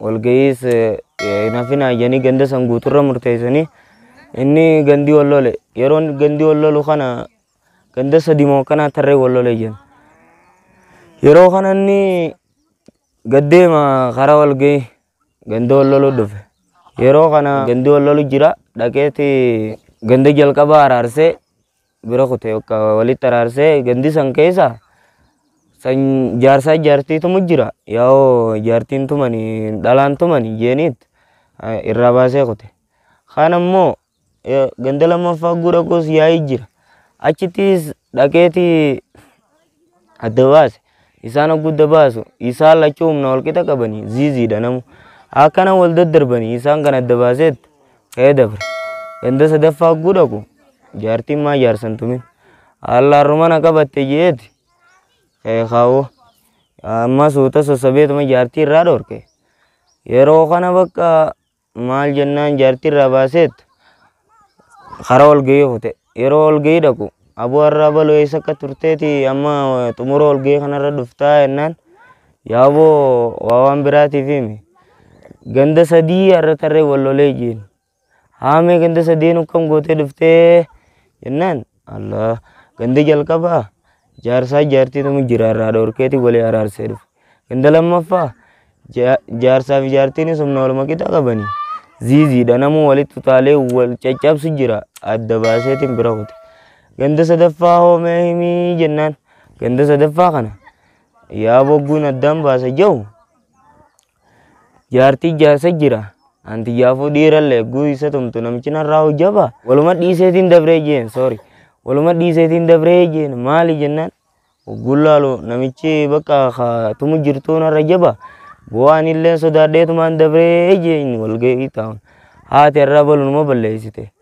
Walga'iis hin hafin hayyanii ganda san guuturra murteessanii inni gandii wal lole. Yeroo gandii wal lolu kana ganda sadi moo akkanaa tarree wal lole jedhan. Yeroo kana inni gaddeema karaa walga'ii ganda wal lolu dhufe. Yeroo kana gandi wal lolu jira dhaqeeti ganda jalqabaa araarsee bira kute bakka walitti araarsee gandi san keessa san jaarsaa jaartii tumu jira yaa'oo jaartiin tumani dhalaan tumani jeeniit eh, irraa baasee kute kaan ammoo eh, ganda lammaffaa guura goos yaa'ii jira achittis dhaqeeti adda baase. Isaan hoggudda baasu isaan lachuu humna walqixa qabanii ziiziidha namu. Akkana wal daddarbanii isaan kan adda baaseet ka'ee dabre. Ganda sadaffaa hogguu dhaqu jaartiin maa jaarsan tumin. Haallaan rumana qabatte jeeti ka'ee kaawoo. Amma suuta sossabeetuma jaartii irraa dhorke. Yeroo kana bakka Maal jennaan jaartii irraa baaseet karaa walgahii kute. Yeroo walgahii dhaqu aboo har'a abaloo eessa akka turteeti amma xumura walgahii kanarra dhuftaa jennaan yaa aboo waa waan biraatiif himi. Ganda sadii har'a tarree wal lolee jiin. Haamee ganda sadeen akkam gootee dhuftee jennaan Allah gandi jalqabaa jaarsaa jaartii tumu jira irraa dhorkeeti walii araarsee dhufe. Ganda lammaffaa ja- jaarsaa fi jaartiin humna wal maqixa qabani. Ziiziidha namuu walitti utaalee wal caccabsu jira adda baaseetiin bira kute. Ganda sadaffaa hoomee himii jennaan ganda sadaffaa kana yaa bogguun addaan baasa jahu Jaartii jaarsa jira. Anti jaafuu dhiiralle egguu isa tumtu namichi narraa hojjaba. Waluma dhiiseetiin dabree jeen sorry. Waluma dhiiseetiin dabree jeen maali jennaan ogguun laalu namichi bakka ka tumu jirtuu narra jaba. Bu'aan illee sodaadheetumaan dabree jeen walga'ii taa'un. Haati irraa balunuma balleessite.